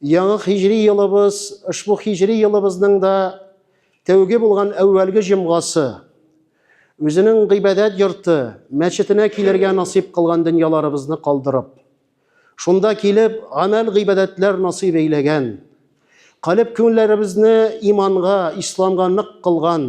Яңа хиҗри елыбыз, ошбу хиҗри елыбызның да тәүге булган әүвәлге җомгасы, үзенең гыйбадәт йорты, мәчетенә килергә насыйп кылган дөньяларыбызны калдырып, шунда килеп, гамәл-гыйбадәтләр насыйп әйләгән, калеб-күңелләребезне иманга, исламга нык кылган,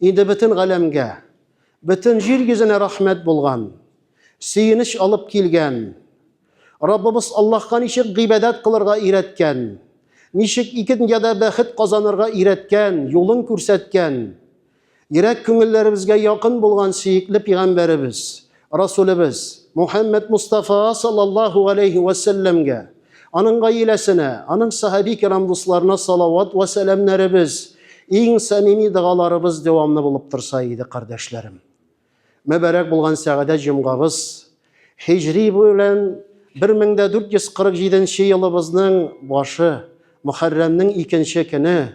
Инде бөтен галәмгә, бөтен җир йөзенә рәхмәт булган, сөенеч алып килгән, Раббыбыз Аллаһка ничек гыйбадәт кылырга өйрәткән, ничек ике дөньяда бәхет казанырга өйрәткән, юлын күрсәткән, йөрәк-күңелләребезгә якын булган сөекле пигамбәребез, Расулебез Мухаммед Мустафа саллаллаху алейхи вә сәлләмгә, аның гаиләсенә, аның сахаби кирам дусларына салават вә сәламнәребез, иң самими догаларыбыз дәвамлы булып торса иде, кардәшләрем. Мөбарәк булган сәгадәт җомгабыз, һиҗри белән 1447 нче елыбызның башы, Мөхәррәмнең икенче көне,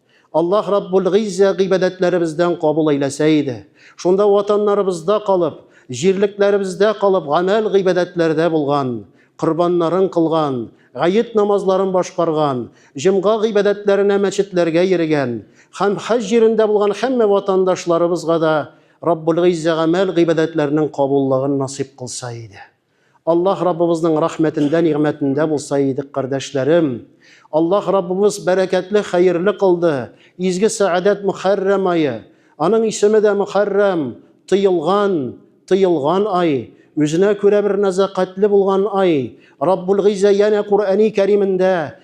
Аллаһ Раббул Гыйззә гыйбадәтләребездән кабул әйләсә иде. Шунда ватаннарыбызда калып, җирлекләребездә калып гамәл гыйбадәтләрдә булган, корбаннарын кылган, гает намазларын башкарган, җомга гыйбадәтләренә мәчетләргә йөрегән һәм хаҗ җирендә булган һәммә ватандашларыбызга да Раббул Гыйззә гамәл гыйбадәтләрнең кабуллыгын насыйп кылса иде. Аллаһ Раббыбызның рәхмәтендә, нигъмәтендә булса идек, кардәшләрем. Аллаһ Раббыбыз бәрәкәтле, хәерле кылды. Изге сәгадәт Мөхәррәм ае. Аның исеме дә Мөхәррәм, тыелган, тыелган ай. Үзенә күрә бер нәзакәтле булган ай. Раббул Гыйззә янә Куръәни Кәримендә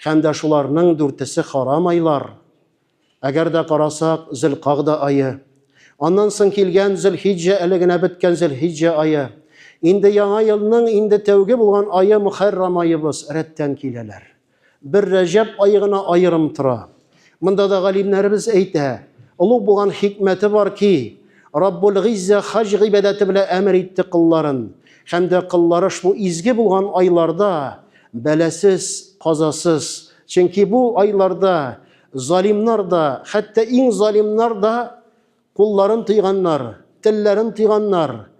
Һәм дә шуларның дүртесе харам айлар. Әгәр дә карасак, Зөлкагъда ае. Аннан соң килгән Зөлхиҗҗә әле генә беткән Зөлхиҗҗә ае. Инде яңа елның инде тәүге булган ае Мөхәррам аебыз, рәттән киләләр. Бер Рәҗәб ае гына аерым тора. Монда да галимнәребез әйтә, олуг булган хикмәте бар ки, Раббул Гиззә хаҗ гыйбадәте белән әмер итте кылларын, һәм дә кыллары шул изге булган айларда бәласез, казасыз, чөнки бу айларда залимнар да, хәтта иң залимнар да Кулларын тыйганнар, телләрен тыйганнар,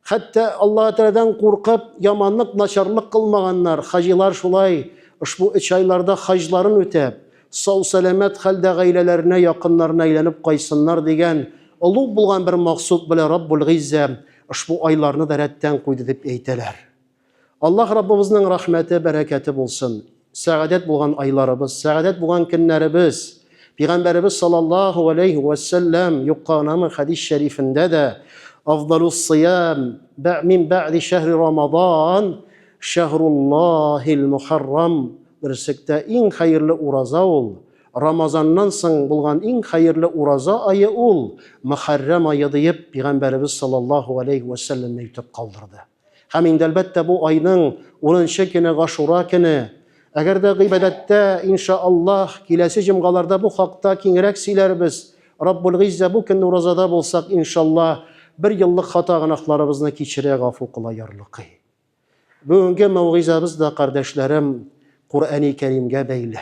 хәтта Аллаһы Тәгаләдән куркып, яманлык, начарлык кылмаганнар. Хаҗилар шулай, ошбу өч айларда хаҗларын үтәп, сау-сәламәт хәлдә гаиләләренә, якыннарына әйләнеп кайтсыннар дигән олуг булган бер максут белән Раббул-Гыйззә ошбу айларны да рәттән куйды дип әйтәләр. Аллаһ Раббыбызның рәхмәте, бәрәкәте булсын! Сәгадәт булган айларыбыз, сәгадәт булган көннәребез! Пигамбәребез салаллаһу галәйһи вә сәлләм юкка гынамы хәдис шәрифендә дә, Афдалуссыям бә мин бәгъди шәһри Рамадан шәһруллаһил мухаррам Берсектә иң хәерле ураза ул, Рамазаннан соң булган иң хәерле ураза ае ул, Мөхәррәм ае диеп, пигамбәребез салаллаһу галәйһи вә сәлләм әйтеп калдырды. Һәм инде әлбәттә бу айның 10 көне Гашура көне. Әгәр дә гыйбадәттә, иншааллаһ, киләсе җомгаларда бу хакта киңрәк сөйләрбез. Раббул Гыйззә бу көнне уразада булсак, иншаллаһ, бер еллык хата гөнаһларыбызны кичерә, гафу кыла ярлыкый. Бүгенге мәүгыйзәбез дә, кардәшләрем, Куръәни Кәримгә бәйле.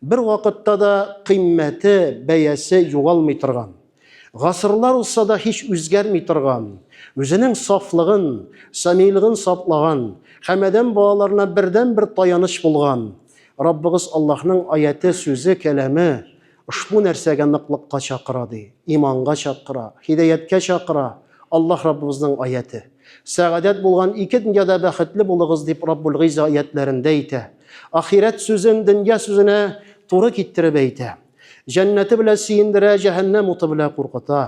Бер вакытта да кыйммәте, бәясе югалмый торган, гасырлар узса да һич үзгәрми торган, үзенең сафлыгын, самийлыгын саклаган һәм адәм балаларына бердәнбер таяныч булган Раббыбыз Аллаһның аяте, сүзе, кәламе ошбу нәрсәгә ныклыкка чакыра, ди, иманга чакыра, һидаяткә чакыра, Аллаһ Раббыбызның аяте. Сәгадәт булган ике дөньяда бәхетле булыгыз, дип Раббул Гыйзза аятләрендә әйтә. Ахирәт сүзен дөнья сүзенә туры китереп әйтә. Җәннәте белән сөендерә, җәһәннәм уты белән куркыта.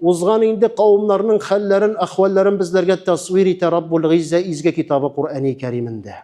Узган инде кавымнарның хәлләрен, әхвәлләрен безләргә тәсвир итә Раббул Гыйзза изге китабы Коръәни Кәримендә.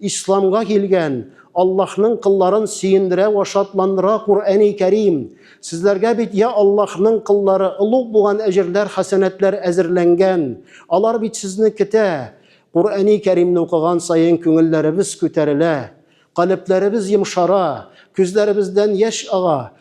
Исламга килгән, Аллаһның кылларын сөендерә вә шатландыра Куръәни Кәрим. Сезләргә бит, йа Аллаһның кыллары, олуг булган әҗерләр, хәсәнәтләр әзерләнгән. Алар бит сезне көтә. Куръәни Кәримне укыган саен күңелләребез күтәрелә, калебләребез йомшара, күзләребездән яшь ага.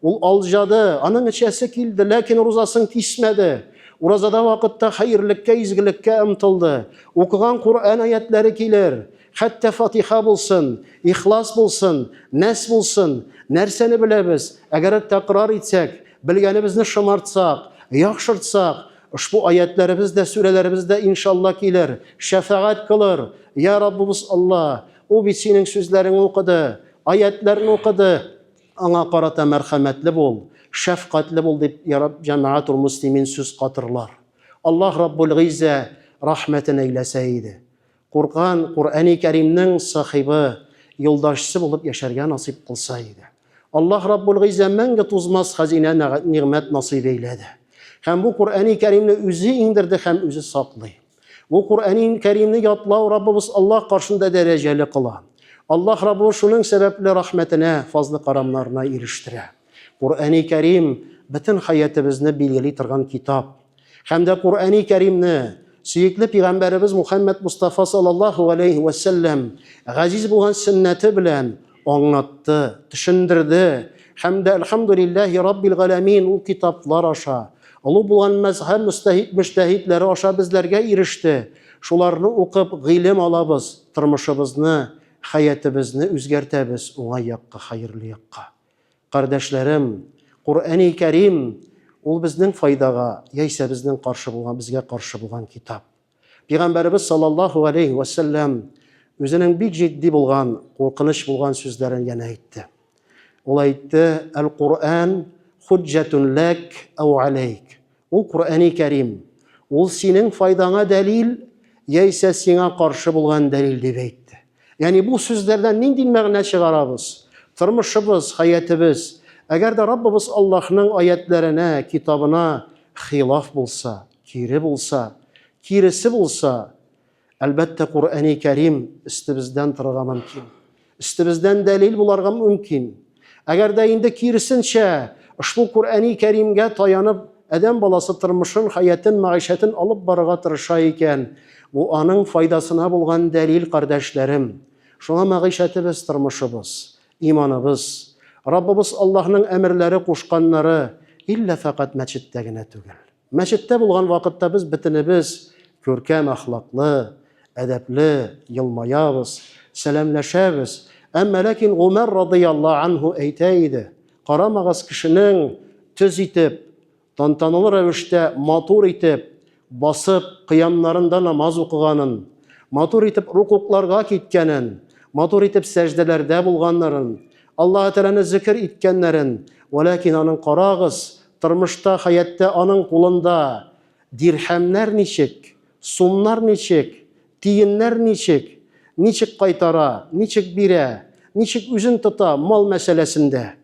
Ул алҗады, аның эчәсе килде, ләкин рузасын кисмәде. Уразада вакытта хәерлеккә, изгелеккә ымтылды. Укыган Коръән аятләре килер, хәтта Фатиха булсын, Ихлас булсын, Нәс булсын. Нәрсәне беләбез? Әгәр тәкрар итсәк, белгәнебезне шомартсак, яхшыртсак, ошбу аятләребез дә, сүрәләребез дә, иншалла, килер, шәфәгать кылыр. Йә Раббыбыз Алла, ул бит синең сүзләреңне укыды, аятләрне укыды. Аңа карата мәрхәмәтле бул, шәфкатьле бул, дип Яраб Җәмәгатул-Мөслимин сүз катырлар. Аллаһ Раббул-Гыйззә рәхмәтен әйләсә иде. Куркан, Коръәни Кәримнең сахибы, юлдашчы булып яшәргә насыйп кылса иде. Аллаһ Раббул-Гыйззә мәңге тузмас хәзинә нәгать-нигъмәт насыйп әйләде. Һәм бу Коръәни Кәримне үзе иңдерде һәм үзе саклый. Бу Куръәнин Кәримне ятлау Раббыбыз Аллаһ каршында дәрәҗәле кыла. Аллаһ Раббыбыз шуның сәбәпле рәхмәтенә, фазлы-карамнарына ирештерә. Куръәни Кәрим, бөтен хәятебезне билгели торган китап. Һәм дә Куръәни Кәримне, сөекле пигамбәребез Мухәммәд Мостафа саллаллаһу галәйһи вә сәлләм, газиз булган сөннәте белән, аңлатты, төшендерде һәм дә Әлхәмдүлилләһи Раббил галәмин ул китаплар аша, олы булган мәзһәб мөстәһид мөҗтәһидләре аша безләргә иреште. Шуларны укып, гыйлем алабыз, тормышыбызны, хәятебезне үзгәртәбез уңай якка, хәерле якка. Кардәшләрем, Коръәни Кәрим, ул безнең файдага, яисә безнең каршы булган, безгә каршы булган китап. Пигамбәребез саллаллаһу алейһи вә сәлләм үзенең бик җитди булган, куркыныч булган сүзләрен янә әйтте. Ул әйтте, Әл-Куръән хуҗҗәтун ләк ау алейк. Ул Куръәни Кәрим. Ул синең файдаңа дәлил, яисә сиңа каршы булган дәлил дип әйтте. Ягъни бу сүзләрдән нинди мәгънә чыгарабыз? Тормышыбыз, хәятебез, әгәр дә Раббыбыз Аллаһның аятләренә, китабына хилаф булса, Кире булса, киресе булса, әлбәттә, Коръәни Кәрим өстебездән торырга мөмкин. Өстебездән дәлил буларга мөмкин. Әгәр дә инде киресенчә, ошбу Коръәни Кәримгә таянып, адәм баласы тормышын, хәятын, мәгыйшәтен алып барырга тырыша икән, бу аның файдасына булган дәлил, кардәшләрем. Шуңа мәгыйшәтебез, тормышыбыз, иманыбыз, Раббыбыз Аллаһның әмерләре, кушканнары иллә фәкать мәчеттә генә түгел. Мәчеттә булган вакытта без бөтенебез күркәм әхлаклы, әдәпле, елмаябыз, сәламләшәбез. Әмма ләкин Гомәр радыяллаһу анһу әйтә иде, Карамагыз кешенең төз итеп, тантаналы рәвештә матур итеп басып, кыямнарында намаз укыганын, матур итеп рукукларга киткәнен, матур итеп сәҗдәләрдә булганнарын, Аллаһы Тәгаләне зикер иткәннәрен, вәләкин аның карагыз, Тормышта, хәяттә аның кулында дирһәмнәр ничек, сумнар ничек, тиеннәр ничек, ничек кайтара, ничек бирә, ничек үзен тота мал мәсьәләсендә,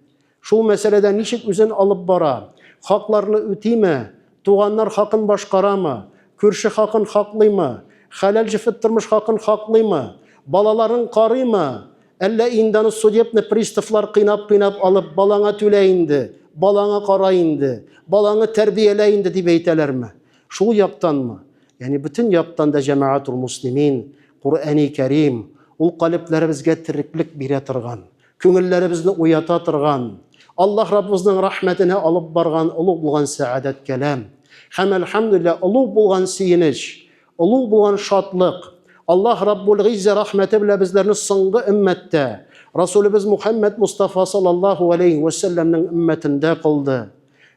шул мәсьәләдә ничек үзен алып бара, хакларны үтиме, туганнар хакын башкарамы, күрше хакын хаклыймы, хәләл-җефет тормыш хакын хаклыймы, балаларын карыймы, Әллә инде аны судебный приставлар кыйнап-кыйнап алып, балаңа түлә инде, балаңа кара инде, балаңы тәрбиялә инде дип әйтәләрме? Шул яктанмы? Ягъни бөтен яктан да җәмәгатул муслимин, Коръәни Кәрим, ул калебләребезгә тереклек бирә торган, күңелләребезне уята торган, Аллаһ Раббыбызның рәхмәтенә алып барган олуг булган сәгадәт кәлам. Һәм, әлхәмдүлилләһ, олуг булган сөенеч, Олуг булган шатлык! Аллаһ Раббул-Гыйззә рәхмәте белән безләрне соңгы өммәттә, Расулебез Мухәммәд Мостафа саллаллаһу галәйһи вә сәлләмнең өммәтендә кылды.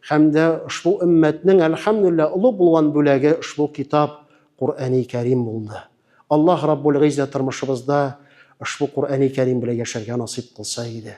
Һәм дә ошбу өммәтнең, әлхәмдүлилләһ, олуг булган бүләге ошбу китап, Коръәни Кәрим булды. Аллаһ Раббул-Гыйззә тормышыбызда ошбу Коръәни Кәрим белән яшәргә насыйп кылса иде.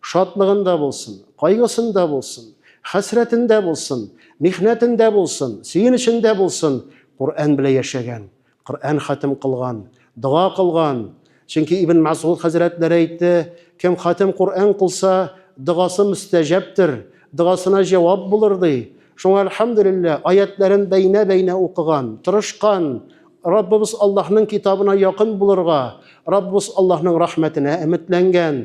Шатлыгында булсын, кайгысында булсын, хәсрәтендә булсын, михнәтендә булсын, сөенечендә булсын, Коръән белән яшәгән, Коръән хатим кылган, дога кылган. Чөнки Ибн Мәсгуд хәзрәтләре әйтте, Кем хатим Коръән кылса, догасы мөстәҗәптер, догасына җавап булыр, ди. Шуңа, әлхәмдүлилләһ, аятьләрен бәйнә-бәйнә укыган, тырышкан, Раббыбыз Аллаһның китабына якын булырга, Раббыбыз Аллаһның рәхмәтенә өметләнгән.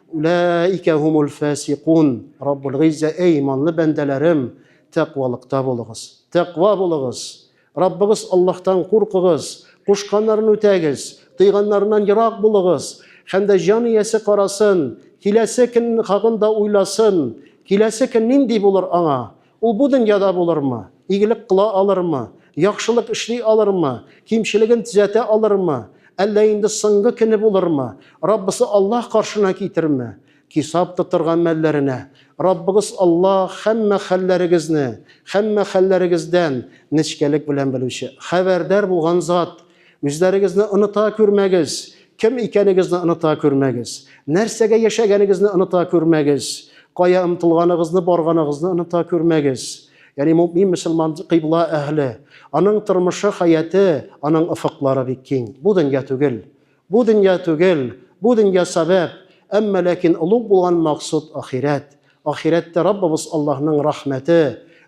Улаика хумул фасикун. Раббул гыйззә, эй иманлы бәндәләрем, тәкъвалыкта булыгыз. Тәкъва булыгыз. Раббыгыз Аллаһтан куркыгыз, кушканнарын үтәгез, тыйганнарыннан ерак булыгыз. Һәм дә җан иясе карасын, киләсе көн хакында уйласын, киләсе көн нинди булыр аңа? Ул бу дөньяда булырмы? Игелек кыла алырмы? Яхшылык эшли алырмы? Кимчелеген төзәтә алырмы? Әллә инде соңгы көне булырмы? Раббысы Аллаһ каршына китерме? Кисап тотырга мәлләренә, Раббыгыз Аллаһ һәммә хәлләрегезне, һәммә хәлләрегездән нечкәлек белән белүче, хәбәрдар булган Зат. Үзләрегезне оныта күрмәгез. Кем икәнегезне оныта күрмәгез. Нәрсәгә яшәгәнегезне оныта күрмәгез. Кая омтылганыгызны, барганыгызны оныта күрмәгез. Ягъни мөэмин мөселман кыйбла әһле. Аның тормышы, хәяте, аның офыклары бик киң. Бу дөнья түгел. Бу дөнья түгел. Бу дөнья сәбәп, әмма ләкин олуг булган максуд, ахирәт. Ахирәттә Раббыбыз Аллаһның рәхмәте,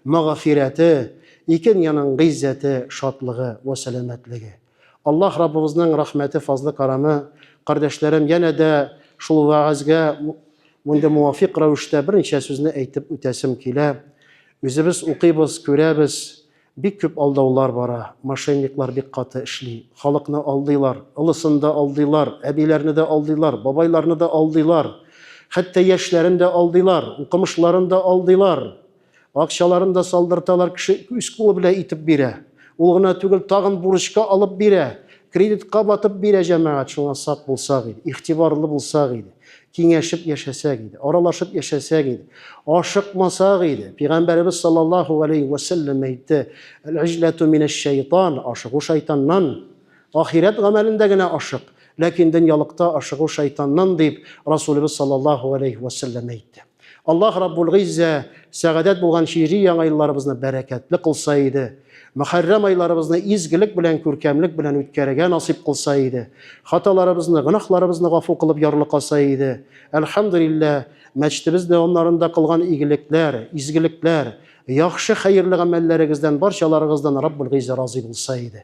мәгъфирәте, ике дөньяның гыйззәте, шатлыгы вә сәламәтлеге. Аллаһ Раббыбызның рәхмәте, фазлы-кәрәме, кардәшләрем, янә дә шул вәгазьгә мондый муафикъ рәвештә берничә сүзне әйтеп үтәсем килә. Үзебез укыйбыз, күрәбез, Бик күп алдаулар бара, мошенниклар бик каты эшли. Халыкны алдыйлар, олысын да алдыйлар, әбиләрне дә алдыйлар, бабайларны да алдыйлар. Хәтта яшьләрен дә алдыйлар, укымышларын да алдыйлар. Акчаларын да салдырталар, кеше үз кулы белән итеп бирә. Ул гына түгел, тагын бурычка алып бирә, кредитка батып бирә, җәмәгать, шуңа сак булсак иде, игътибарлы булсак иде. киңәшеп яшәсәк иде, аралашып яшәсәк иде, ашыкмасак иде. Пәйгамбәребез саллаллаһу алейхи ва сәлләм әйтте: "Әл-иҗлату минәш-шайтан", ашыгу шайтаннан. Ахирәт гамәлендә генә ашык, ләкин дөньялыкта ашыгу шайтаннан дип Расулыбыз саллаллаһу алейхи ва сәлләм әйтте. Аллаһ Раббул Гыйззә сәгадәт булган һижри яңа елларыбызны бәрәкәтле кылса иде. Мөхәррәм айларыбызны изгелек белән, күркәмлек белән үткәрергә насыйп кылса иде. Хаталарыбызны, гөнаһларыбызны гафу кылып ярлыкаса иде. Әлхәмдүлилләһ, мәчетебез дәвамнарында кылган игелекләр, изгелекләр, яхшы хәерле гамәлләрегездән, барчаларыгыздан Раббул Гыйззә разый булса иде.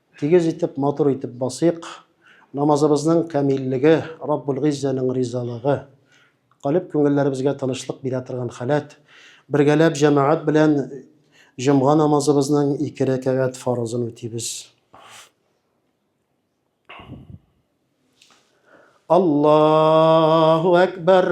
Тигез итеп, матур итеп басыйк. Намазыбызның камиллеге, Раббулгыйззәнең ризалыгы. Калеб күңелләребезгә тынычлык бирә торган халәт. Бергәләп җәмәгать белән җомга намазыбызның ике рәкәгать фарызын үтибез. Аллаһу әкбәр!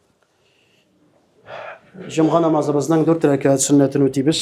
Җомга намазыбызның дүрт рәкәт сөннәтен үтибез.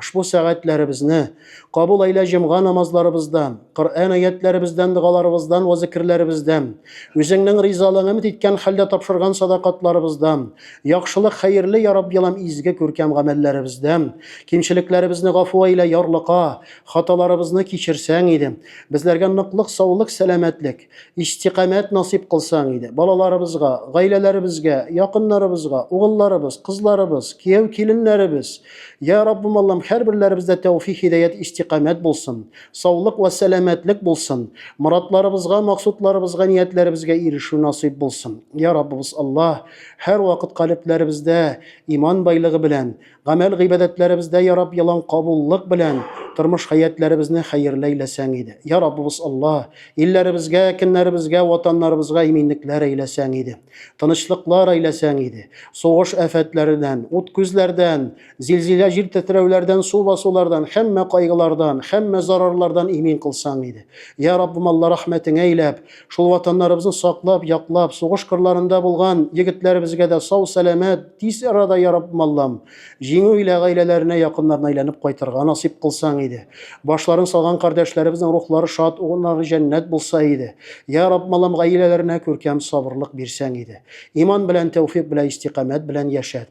Ошбу сәгатьләребезне кабул әйлә җомга намазларыбыздан, Коръән аятьләребездән, догаларыбыздан вә зикерләребездән, Үзеңнең ризалыгың өмет иткән хәлдә тапшырган садакатларыбыздан, яхшылык, хәерле, я Рабби Алам, изге, күркәм гамәлләребездән. Кимчелекләребезне гафу әйлә, Ярлыка, хаталарыбызны кичерсәң иде. Безләргә ныклык, саулык, сәламәтлек. Истикамәт насыйп кылсаң иде. Балаларыбызга, гаиләләребезгә, якыннарыбызга, угылларыбыз, кызларыбыз, кияү киленнәребез. Я Раббым Аллам, һәрберләребездә тәүфих хидәят истикамәт булсын. Саулык вә сәламәтлек булсын. Моратларыбызга, максутларыбызга, ниятләребезгә ирешү насыйп булсын. Я Раббыбыз Аллаһ, һәрвакыт калебләребездә иман байлыгы белән, гамәл гыйбадәтләребездә я раб ялан кабуллык белән тормыш хәятләребезне хәерле әйләсәң иде я раббыбыз алла илләребезгә кеннәребезгә ватаннарыбызга иминлекләр әйләсәң иде тынычлыклар әйләсәң иде сугыш афәтләреннән ут күзләрдән зилзилә җир тетрәүләрдән су басулардан һәммә кайгылардан һәммә зарарлардан имин кылсаң иде я раббым алла рәхмәтеңә әйләп Шул ватаннарыбызны саклап, яклап, сугыш кырларында булган егетләребезгә дә сау сәламәт, тиз арада ярап маллам, җиңү илә гаиләләренә, якыннарына әйләнеп кайтырга насыйп кылсаң иде. Башларын салган кардәшләребезнең рухлары шат, урыннары җәннәт булса иде. Я Рабб маллам гаиләләренә күркәм сабырлык бирсәң иде. Иман белән, тәүфик белән, истикамәт белән яшәт.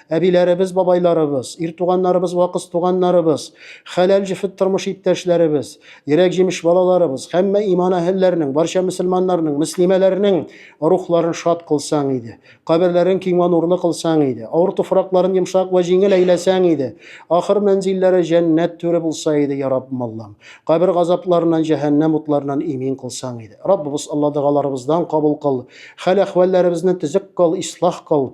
Әбиләребез, бабайларыбыз, ир туганнарыбыз вә кыз туганнарыбыз, хәләл җефет тормыш иптәшләребез, йөрәк җимеш балаларыбыз, һәммә иман әһелләренең, барча мөселманнарның, мөслимәләрнең рухларын шат кылсаң иде. Каберләрен киң вә нурлы кылсаң иде. Авыр туфракларын йомшак вә җиңел әйләсәң иде. Ахыр мәнзилләре җәннәт түре булса иде, я Раббым Аллам. Кабер газапларыннан, җәһәннәм утларыннан имин кылсаң иде. Раббыбыз Алла догаларыбыздан кабул кыл. Хәл-әхвәлләребезне төзек кыл, ислах кыл.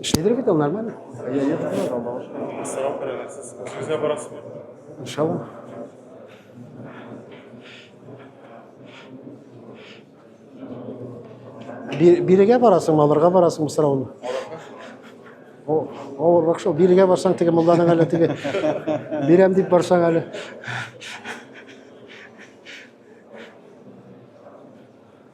Эшләдер бит ул нормально. Я не знаю, там бабушка. Сорап карагансыз. Сезгә барасызмы? Иншалла. Бирегә барасың, алырга барасың сорауны. О, авыррак шул. Бирегә барсаң, теге мулланың әле теге бирәм дип барсаң әле.